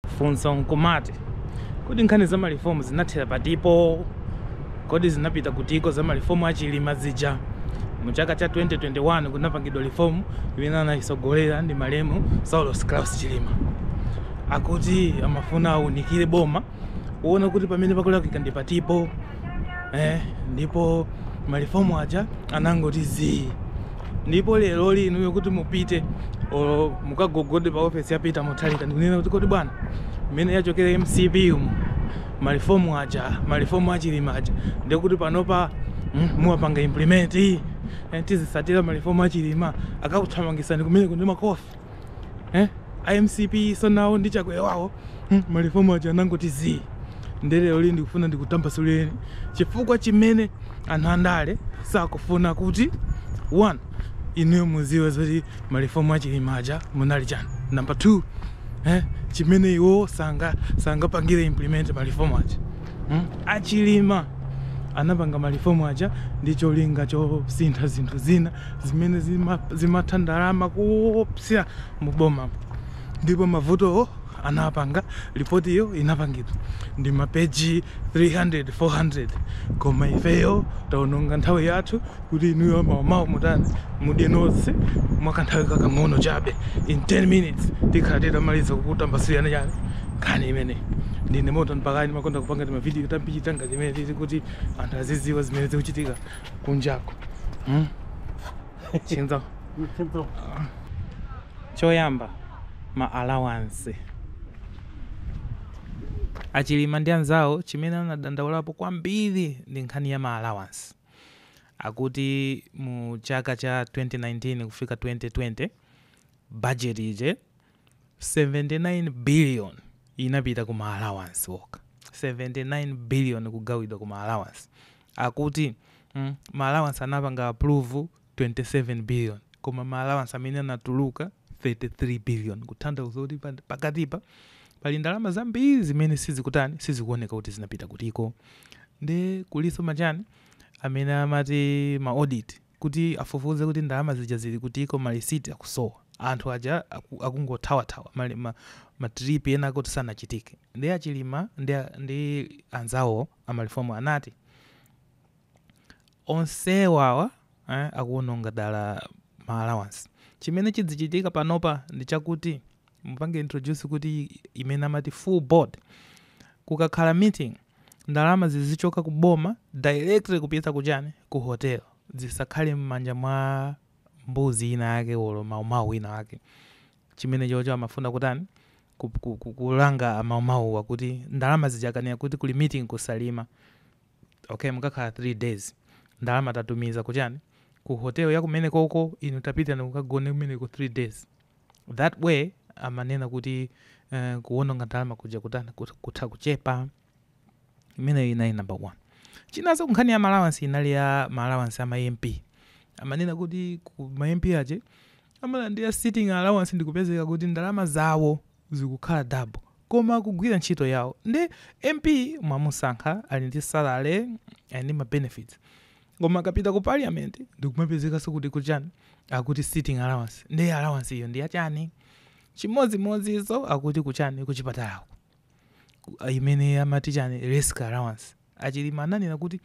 Funso nkumati, kodi nkhani za malifomu zinathera patipo? Kodi zinapita kutiko za malifomu a Chilima zija? Mu chaka cha 2021 kunapangidwa lifomu imene anayitsogolera ndi malemu Saulos Klaus Chilima. Akuti amafuna aunikire boma kuona kuti pamene pakulakwika ndi patipo. eh, ndipo malifomu aja anangoti zii ndipo lero lino kuti mupite olo mukagogode pa ofesi ya Peter Mutharika ndikunena kuti kodi bwana mmene yachokera MCP umu malifomu aja malifomu achilima aja ndikuti panopa mm, muwapanga implement eh, tizitsatira malifomu achilima akakuthamangitsani kumeneko ndi makofi eh? a mcpnso nawo ndi chakwera wawo hmm, malifomu aja anangoti zii nde lero lino ndikufuna ndikutambasulireni chifukwa chimene anthu andale sakufuna kuti one inuyo mudziwe zoti malifomu achilima aja munali chani number two eh, chimene iwo sanga sangapangire implement malifomu aja hmm? achilima anapanga malifomu aja ndi cholinga chosintha zinthu zina zimene zima, zimatha ndalama koopsa mu bomamu ndipo mavutowo anapanga lipotiyo inapangidwa ndi mapeji 300 400 koma ifeyo taononga nthawi yathu kuti inuyo amaumawo mutani mudyeko nawo mwakanthawi kakang'ono chabe in 10 minutes tikhala titamaliza kukutambasulirani chani nkhani imene ndine moto mpakani ndimakonda kupanga timavidiyo tangati timeneti kuti anthu azidziwa zimene zikuchitika kunjako hmm? chinthu choyamba ma allowance achilima ndi anzawo chimene anadandaulapo kwambiri ndi nkhani ya ma allowance akuti mu chaka cha 2019 kufika 2020 budget ije 79 billion inapita ku ma allowance okha 79 billion kugawidwa ku ma allowance akuti mm, ma allowance anapanga approve 27 billion koma ma allowance amene anatuluka 33 billion kutanthauza kuti pa- pakatipa pali ndalama zambiri zimene sizikutani sizikuoneka kuti zinapita kutiko nde kulinso machani amene amati ma audit kuti afufuze kuti ndalama zija zili kutiko malisiti akusowa anthu aja aku, akungothawathawa ma, ma, ma trip ena akuti sanachitike nde achilima ndi, a- ndi anzawo amalifomu anati onsewawa eh, akuononga dala ma allowance chimene chidzichitika panopa ndi chakuti mupange introduce kuti imene amati full board kukakhala meeting ndalama zizichoka ku boma directly kupita ku chani ku hotel zisakhale mmanja mwa mbuzi ina yake olo maumau wina wake chimene chocho amafuna kutani ku, ku, ku, kulanga amaumauwa kuti ndalama zijakanira kuti kuli meeting ku Salima okay mukakhala 3 days ndalama tatumiza kuchani ku hotel yakumene koko inu tapitani kukagone kumeneko 3 days that way amanena kuti uh, kuwononga ndalama kuja kutani kut- kutha kuchepa imeneyo inali number one chinanso nkhani ya ma alawansi inali ya ma alawansi a ma MP amanena kuti ku ma MP aja amalandira sitting allowance ndikupezeka kuti ndalama zawo zikukhala double koma kugwira ntchito yawo ndi MP mwamusankha ali ndi salary ali ndi mabenefits koma akapita ku parliament ndikumapezekanso kuti kuchani akuti sitting allowance ndiye allowance iyo ndi yachani chimodzimodzizo akuti kuchani kuchipatalako Ku- imene amati chani risk allowance a Chilima ananena kuti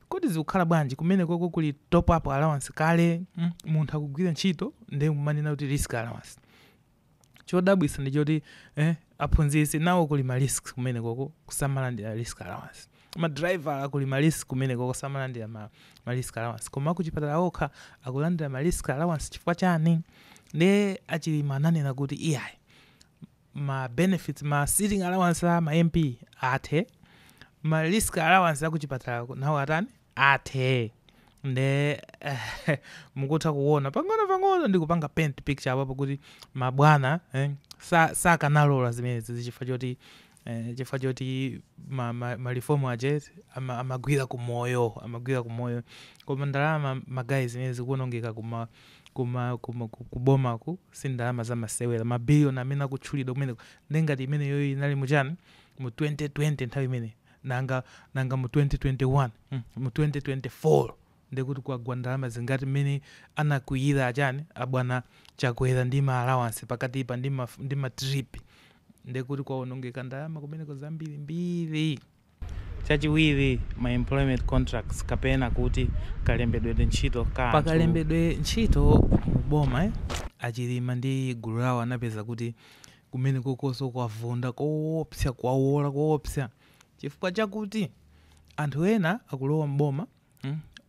kodi zikukhala bwanji kumene koko kuli top up allowance kale mm, munthu akugwira ntchito ndiye kumanena kuti risk allowance chodabwisa ndichoti eh, aphunzitsi nawo kuli ma risk kumene koko samalandira risk allowance ma driver kuli ma risk kumene koko samalandira ma, ma risk allowance koma akuchipatala okha akulandira ma risk allowance chifukwa chani nde a Chilima ananena kuti iyayi ma benefits ma sitting allowance a ma MP athe ma risk allowance akuchipatala nawo atani athe nde eh, mukutha kuona pang'ono pang'ono ndikupanga paint picture apapo kuti mabwana eh, sa- sakanalola zimenezi chifukwa choti eh, chifukwa choti ma, ma, ma reform aja ama, amagwira ku moyo amagwira ku moyo koma ndalama magayi zimene zikuonongeka kuma kuma kuma ku- kubomaku si ndalama za masewera mabiliyoni amene akutchulidwa kumeneko nde ngati imeneyo inali muchani mu 2020 nthawi imene Nanga nanga mu 2021 hmm, mu 2024 ndekuti kwagwa ndalama zingati mmene anakwiyira achani abwana Chakwera ndi ma allowance pakatipa ndi ma, ndi ma trip ndekuti kwaonongeka ndalama kumeneko zambiri mbiri chachiwiri ma employment contracts kapena kuti kalembedwedwe ntchito ka anthu. pakalembedwe ntchito mu boma eh, a Chilima ndi gulu lawo anapeza kuti Kumenekokonso kwavunda koopsa, kwawola koopsa chifukwa chakuti anthu ena akulowa m'boma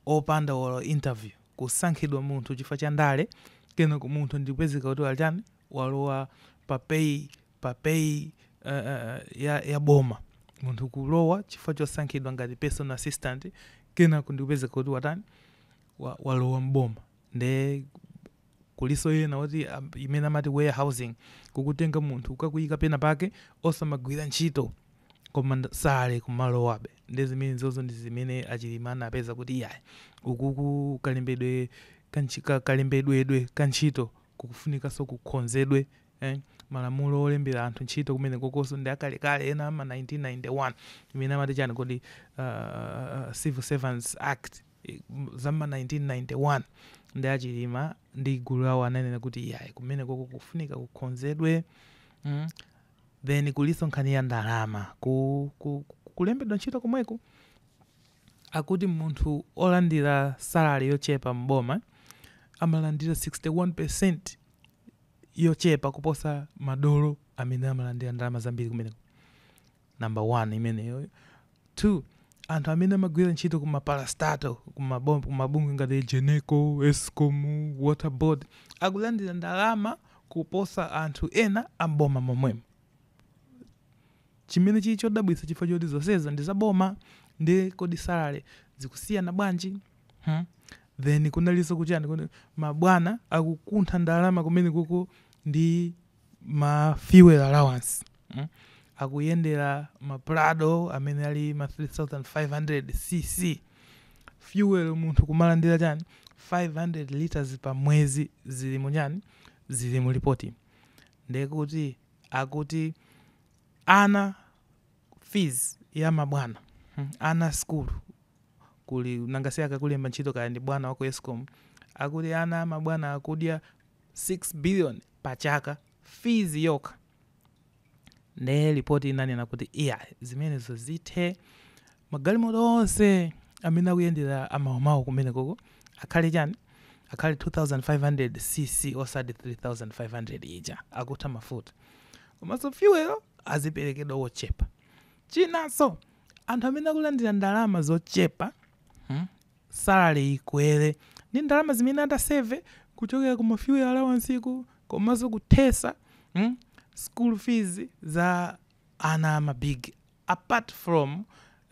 opanda olo interview, kusankhidwa munthu chifukwa cha ndale, kenako munthu ndikupezeka kuti watani, walowa pa pay, pa pay ya ya boma, munthu kulowa chifukwa chosankhidwa ngati personal assistant, kenako ndikupezeka kuti watani, walowa m'boma, nde. Kuliso ina oti imene amati warehousing kukutenga munthu kukakuyika pena pake osamagwira ntchito koma sale kumalowabe nde zimenezozo ndi zimene a Chilima anapeza kuti iyayi ukuko kalembedwe ka ntchi ka kalembedwedwe ka ntchito kukufunikaso kukonzedwe eh malamulo olembera anthu ntchito kumenekokoso ndi akalekale ena ama 1991 imene amati chani kodi aah civil servants act za m'ma 1991 nde a Chilima ndi gulu lawo ananena kuti iyayi kumenekoko kukufunika kukonzedwe mm, then kuliso nkhani ya ndalama ku, ku, ku- kulembedwa ntchito komweko akuti munthu olandira salary yochepa m'boma amalandira 61% yochepa kuposa madolo amene amalandira ndalama zambiri kumeneko number 1 imeneyo 2 anthu amene amagwira ntchito ku maparastatal ku mabom- ku mabungwe ngati Egenco Escom water board akulandira ndalama kuposa anthu ena amboma momwemo chimene chili chodabwitsa chifukwa choti zonseza ndi zaboma nde kodi salary zikusiyana bwanji hmm? then kunalinso ku chani kuti mabwana akukuntha ndalama kumenekoko ndi ma fuel allowance mm? akuyendera ma prado amene ali ma 3500 cc fuel munthu kumalandira chani 500 liters pa mwezi zili mu chani zili mu lipoti ndekuti akuti ana fees ya mabwana mm, ana skulu kuli nanga si akakulemba ntchito kaya ndi bwana wa ku Escom akuti ana amabwana akudya 6 billion pa chaka fees yokha nde report inanena kuti iya zimenezo zithe magalimoto onse amene akuyendera amabwanawo kumenekoko akhale chani akhale 2500 cc osati 3500 ija akutha mafuta komanso fuel aziperekedwa wochepa chinanso anthu amene akulandira ndalama zochepa hmm, salary ikwere ndi ndalama zimene ataseve kuchokera ku ma fuel allowance-ku komanso kuthesa mm, school fees za ana ama big apart from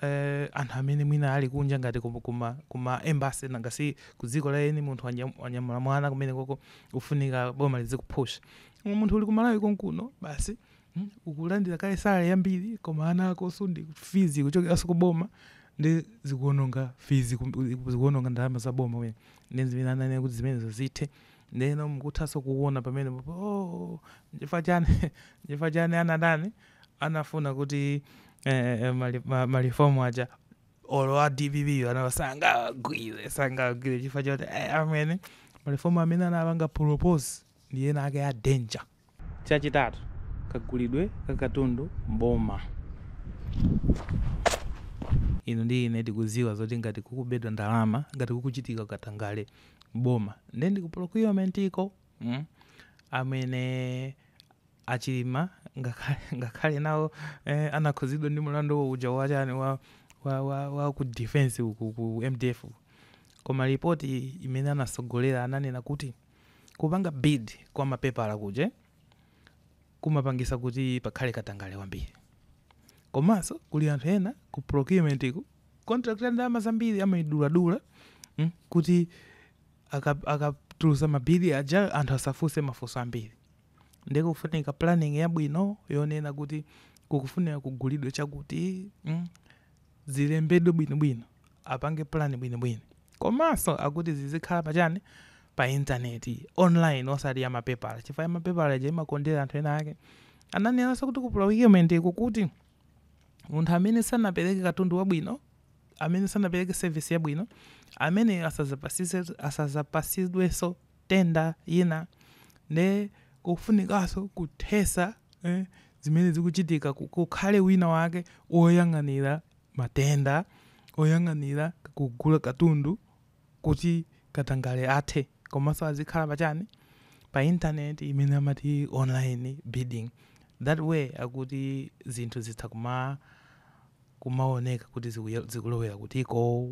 eh, anthu amene mwina ali kunja ngati kuma, kuma, kuma embassy nanga si ku dziko la eni munthu wanya- wanyamula mwana kumenekoko ufunika boma lizikupusha Koma munthu uli kumalawi konkuno basi Hmm? Ukulandira kale salary yambiri koma ana akonso ndi fees ikuchokeranso ku boma ndi zikuononga fees kum- zikuononga ndalama za boma wena. Ndi zimene ananena kuti zimenezo zithe. Ndeno mukuthanso kuona pamene po- oh nchifukwa chani nchifukwa chani anatani anafuna kuti eh, eh, mali- ma- malifomu aja olo a dpp wo sangawa- sangawagwire sangawagwire chifukwa choti eh, amene malifomu amene anapanga propose ndi ena ake a danger Chachitatu, kagulidwe ka katundu m'boma. Inu ndi ine tikudziwa zoti ngati kukubedwa ndalama, ngati kukuchitika katangale m'boma, ndiye ndi ku procurement iko, mm, amene a Chilima ngakhale, ngakhale nawo, eh, anakhudzidwa ndi mulandu uja wa chani, wa, wa, wa, wa ku defense uku, ku mdf uku, koma report imene anatsogolera ananena kuti. Kupanga bid kwa mapepala kuja kumapangisa kuti pakhale katangale wambiri. Komanso kuli anthu ena ku procurement ko contract ya ndalama zambiri amaiduladula mm kuti aka akatulusa ma bid aja anthu asafunse mafunso ambiri. Ndiye kufunika planning yabwino yonena kuti kukufunika kugulidwa chakuti mm. zilembedwe bwinobwino, apange plan bwinobwino komanso akuti zizikhala pa chani pa internet online osati ya mapepala chifukwa ya mapepala ija imakondera anthu ena ake ananenanso kuti ku procurement iko kuti munthu amene sanapereke katundu wabwino amene sanapereke service yabwino ameneyo asazapasise- asazapasidwenso tenda ina nde kufunikanso kuthesa zimene zikuchitika kukhale wina wake woyang'anira matenda oyang'anira kugula katundu kuti katangale athe komanso azikhala pa chani pa internet imene amati online bidding that way akuti zinthu zitha kuma kumaoneka kuti zikulowera kutiko.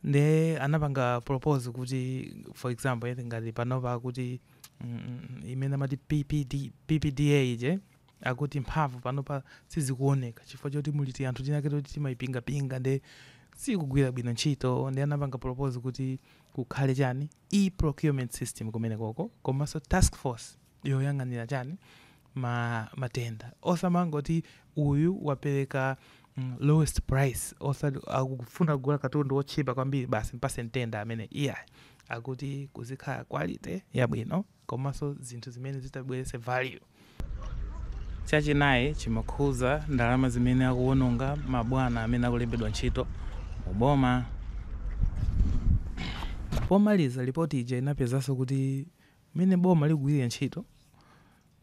nde anapanga propose kuti for example eti ngati panopa akuti mm, mm, mm, imene amati PPD, ppda ija akuti mphamvu panopa sizikuoneka chifukwa choti muli ti anthu tinake toti timayipingapinga nde sikugwira bwino ntchito nde anapanga propose kuti kukhale chani e procurement system kumene koko komanso task force yoyang'anira chani ma matenda osamangoti uyu wapereka mm, lowest price oti akufuna kugula katundu wotchipa kwambiri basi mpase tenda amene iyayi akuti kuzikhala quality yabwino komanso zinthu zimene zitabweretse value chachinayi chimakhuza ndalama zimene akuwononga mabwana amene akulembedwa ntchito mu boma pomaliza lipoti ija inapezanso kuti Mmene boma likugwirira ntchito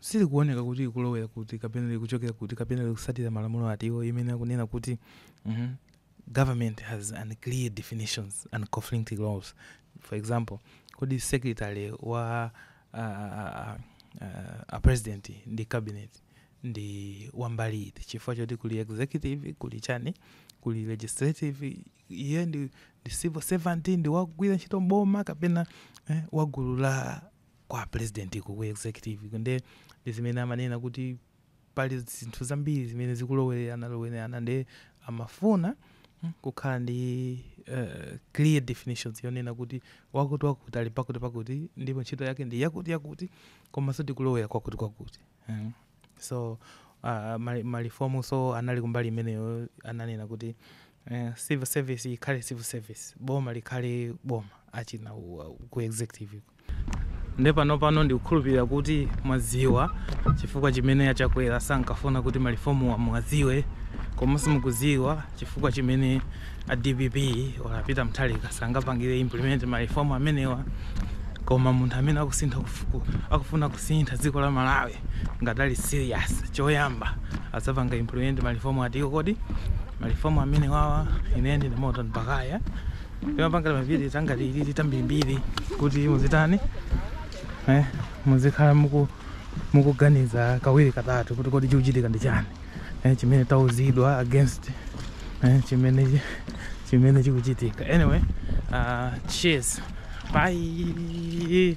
silikuoneka kuti likulowera kuti kapena likuchokera kuti kapena likusatira malamulo ati iwo imene akunena kuti mm, government has unclear definitions and conflicting laws for example kodi secretary wa uh, uh, uh, a president ndi cabinet ndi wambali iti chifukwa choti kuli executive kuli chani kuli legislative iye ndi, ndi civil servant ndi wagwira ntchito mboma kapena eh, wagulu la kwa president iko ku executive iko nde ndi zimene amanena kuti pali zinthu zambiri zimene zikulowererana lowererana nde amafuna mm, kukhala ndi uh, clear definitions yonena kuti wakuti wakuti ali pakuti pakuti ndipo ntchito yake ndi yakuti yakuti komanso tikulowera kwakuti kwakuti mm. so uh, mali- malifomu so anali kumbali imeneyo ananena kuti eh, civil service ikhale civil service boma likhale boma achina u- u- ku executive nde pano pano ndikukhulupirira kuti mwaziwa chifukwa chimene a Chakwera sankafuna kuti malifomuwa mwaziwe komanso mukuziwa chifukwa chimene a dpp or a peter mutharika sangapangire implement ma reform amenewa koma munthu amene akusintha kufu- ku- akufuna kusintha dziko la malawi ngati ali serious choyamba adzapanga implement ma reform atiwo kodi ma reform amenewawa ine ndine Timothy Mbakaya timapangala ma VN angati ilili tambirimbiri kuti muzitani eh, muzikhala muku mukuganiza kawiri katatu kuti kodi chikuchitika ndi chani eh, chimene tauzidwa against eh, chimene chimene chikuchitika anyway uh, cheers bye